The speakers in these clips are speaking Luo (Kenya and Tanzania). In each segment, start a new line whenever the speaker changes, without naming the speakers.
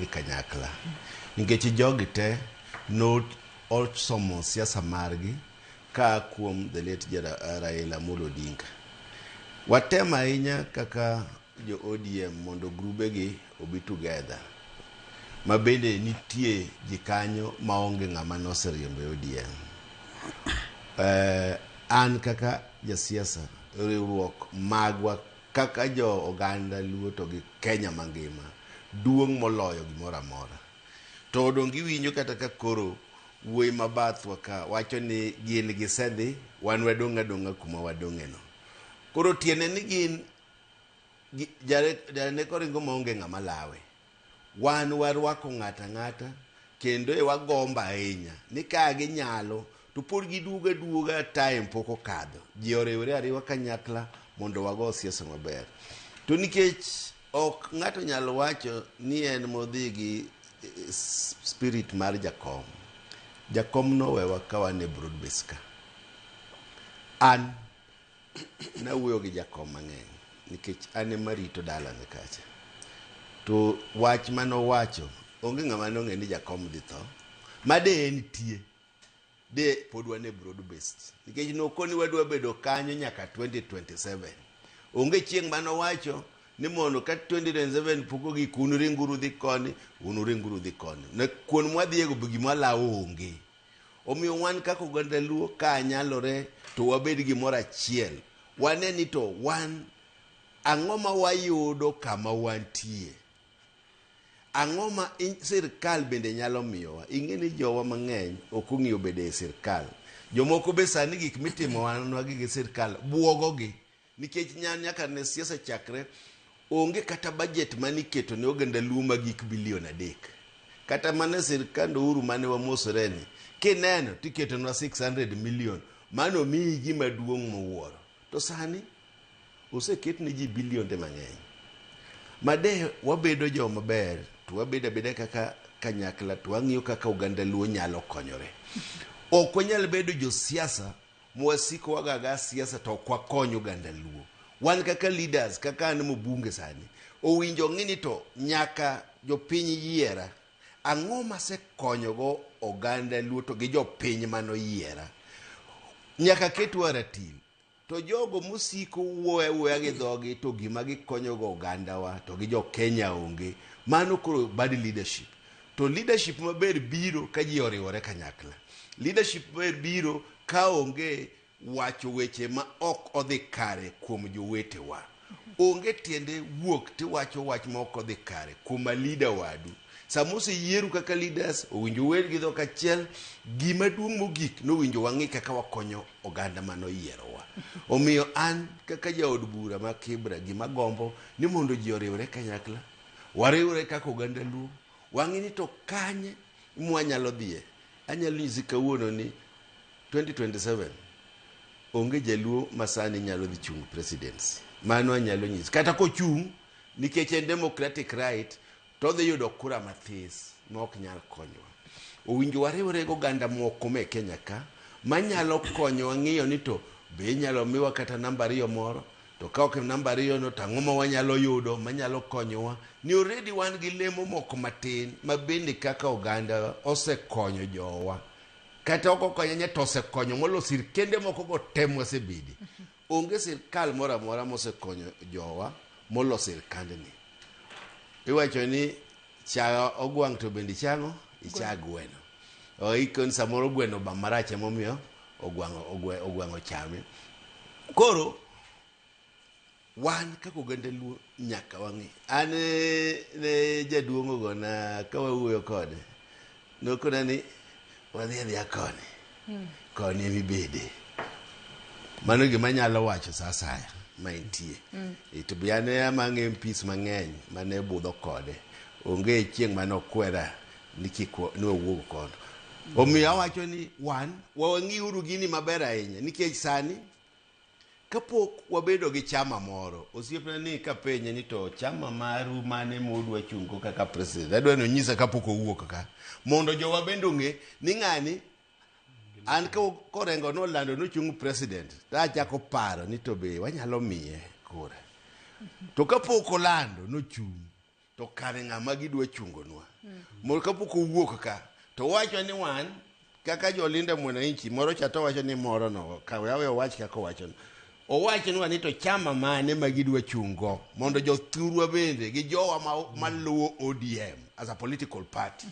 e kanyakla nikech jogi te no osomo siasa margi ka kuom the late Jara- Raila Amolo Odinga. Watem ahinya kaka jo ODM mondo grubegi obi together ma bende nitie ji kanyo maonge ng'ama noseriembo e ODM. Eh, an kaka jasiasa riwruok magwa Kaka jo oganda Luo to gi Kenya mangima duong' moloyo gimoro amora. To donge iwinjo kata ka koro wuoyi ma bathwa ka wacho ni gin gisedhi, wan wadong' adong'a kuma wadong'eno. Koro tiende ni gin, Janek oringo maonge ng'ama lawe. Wan warwako ng'ato ang'ata kendo e wagombo ahinya ni ka ginyalo to pod giduogo aduoga time pok okadho. Ji oriwre ariwa kanyakla mondo wago siasa maber. To nikech ok ng'ato nyalo wacho ni en modhi gi eh, s- spirit mar jakom. Jakom nowewa ka wan e broad base ka. An Nawuoyo gi Jakom mang'eny nikech an ema arito dalane kacha. To wach mane owacho, onge ng'ama ne ong'eyo ni Jakom dhi tho. Ma de en tie, de pod wan e broad based. Nikech noko ni wadwa bedo kanyo nyaka 2027. Onge chieng' mane owacho ni mondo ka 2027 pok ogik un ringuru dhi koni, un ringuru dhi koni. Ne kuon mwadhiego be gima lawo onge. Omiyo wan kaka oganda Luo ka nyalore to wabed gimoro achiel, wane ni to wan ang'o ma wayudo kama wantie, ang'o ma sirkal bende nyalo miyowa. Ing'e ni jowa mang'eny ok ong'iyo bedo e sirkal, jomoko be sani gik mitimowanwa gi sirkal buogogi. Nikech nya nyaka ne siasa chakre, onge kata bajet mane iketo ne oganda Luo ma gik bilion adek. Kata mana e sirkand Ouru mane wamosoreni, kineno to iketonwa 600 million mane omiyi gima duong' muwuoro. To sani oseket ne ji bilionde mang'eny. Ma de wabedo jo maber to wabedo abeda kaka kanyakla to wang'iyo kaka oganda Luo nyalo konyore. Ok wanyal bedo josiasa mwasikowaga ga siasa to ok wakony oganda luo wan kaka leaders kaka an mobunge sani owinjo ong'i ni to nyaka jopiny yiera ang'o masekonyogo oganda luo to gi jopiny manoyiera nyaka ketwa ratil to jogo mosiko wuoya wuoya gi dhogi to gima gikonyogo ogandawa to gi jokenya onge mano koro bad leadership To leadership maber biro ka ji oriwore kanyakla. Leadership maber biro ka onge wacho weche ma ok odhi kare kuom jowetewa. Onge tiende wuok tiwacho wach ma ok odhi kare kuom a leader wadu. Sama oseyieru kaka leaders, owinjo uwer gi dhok achiel, gima duong' mogik ni owinjo wang'i kaka wakonyo oganda mane oyierowa. Omiyo an kaka jaod bura ma Kibra gima agombo ni mondo ji oriwre kanyakla. Wariwre kaka oganda Luo, wang'e ni to kanye mwanyalo dhiye. Anyalo nyisi kawuono ni 2027 onge jaluo masani nyalo dhi chung' presidency. Mano anyalo nyisi. Kata kochung' nikech en democratic right to odhi yudo kura mathis ma ok nyal konyowa. Owinjo wariwre gi oganda moko me Kenya ka manyalo konyowa ng'iyo ni to be inyalo miwa kata namba ariyo moro To ka ok en namba ariyono to ang'o ma wanyalo yudo manyalo konyowa? Ni already wan gi lemo moko matin ma bende kaka oganda osekonyo jowa. Kata ok okonyo nya to osekonyo molo sirkende moko go te mwasebede. Onge sirkal moro amora mosekonyo jowa molo sirkandni. Iwacho ni Cha ogwang' to bende ichang'o, icha gweno. O, iko ni samoro gweno ba marach emomiyo ogwang'o ogwe- ogwang'o chame. Koro wan kaka oganda luo nyaka wang'e. An eh, ne jaduong' ogona ka wawuoyo kode Nokona ni wadhi adhiya koni, hmm. koni emi bede. Mano gima nyalo wacho sa asaya ma entie. Hmm. E, to buya ne amang'e mpis mang'eny mane budho kode. Onge chieng' mane okwera ni kik ni wawuog kono. Omiyo awacho ni wan wang'iuru gini maber ahinya nikech sani Kapok wabedo gi chama moro, osiepna ni kapenye ni to chama maru mane modwa chungo kaka president, adwa ni onyisa kapok owuok ka, mondo jowa bende ong'e ni ng'ani an ko- korengo nolando nochung president, to achako paro ni to be wanyalo miye kura. To kapok olando nochung', to kare ng'ama gidwa chungonwa mondo kapok owuok ka to wacho ni wan kaka jolinda mwananchi moro cha to wacho ni moro no kawe awe owach kaka owachono owachnwa ni to chama mane ma gidwa chungo mondo jothurwa bende gi jowa ma, maluwo odm as a political party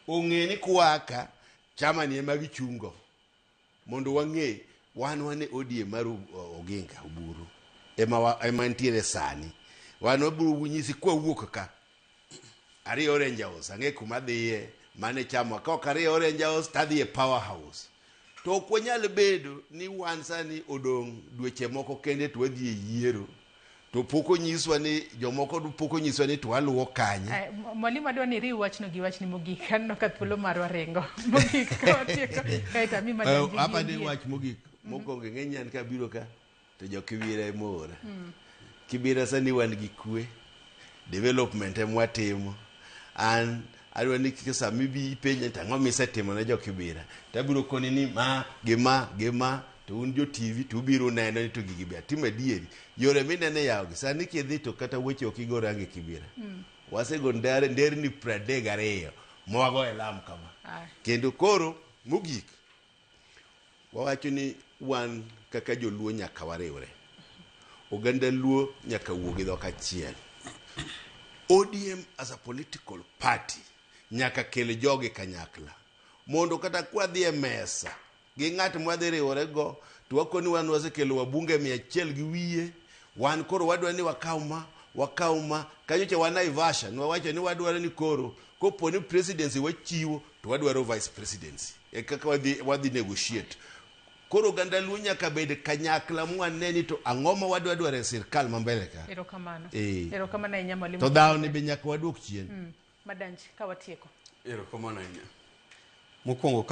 ong'e ni kwaka chama ni ema gichungo Mondo wang'e wan wan e odie mar Oginga Oburu ema wa- ema ntiere sani. Wan wabiro nyisi kwa wuok ka. Ariyo Orange House ang'e kuma dhiye mane chamo ka ok ariyo Orange House tadhiye Power House. To ok wanyal bedo ni wan sani odong' dweche moko kende to wadhi e yiero. to pok onyiswa ni jomoko pok onyiswa ni to aluwo kanye eh, mwalimu adwa ni riw
wachno gi wachni mogik aneno ka thuolo marwa ringo mogik eh, hapa ni wach mogik
mhm. mokwongo ing'e nyan ka biro ka to jokiwira emora mm. kibira sani wan gi kwe development emwatimo an adwa ni kik sama ibi ipenja to ang'o misetimo ne jokibira to abiro koni ni ma gi ma gi ma to un jo tv to ubiro neno ni to gigi be atimo adieri yore mineno e yawogi sani kidhi to kata weche ok igo rangi kibira wasego ndare nderni pradek gariyo mwago e lam kama Aye. kendo koro mogik Wawacho ni wan kaka joluo nyaka wariwre. Oganda luo nyaka wuo gi dhok achiel. ODM as a political party nyaka kel jogi kanyakla mondo kata kwadhi e mesa gi ng'at mwadhi riwore go to wakoni wan wasekelo wabunge mia achiel gi wiye wan koro wadwa ni wakaw ma wakaw ma kanyocha wan Naivasha nwawacho ni wadwaro ni koro kopo ni presidency wachiwo to wadwaro vice presidency e kaka wadhi, wadhi negotiate koro oganda luo nyaka bed kanyakla mwane ni to ang'o ma wadwa dwaro e sirkal ma mbele ka erokamano Eh.
erokamano ahinya mwalimu to dhawoni be nyaka
wadwok chien Mm, madanji
ka watieko
erokamano
ahinya mokwongo ka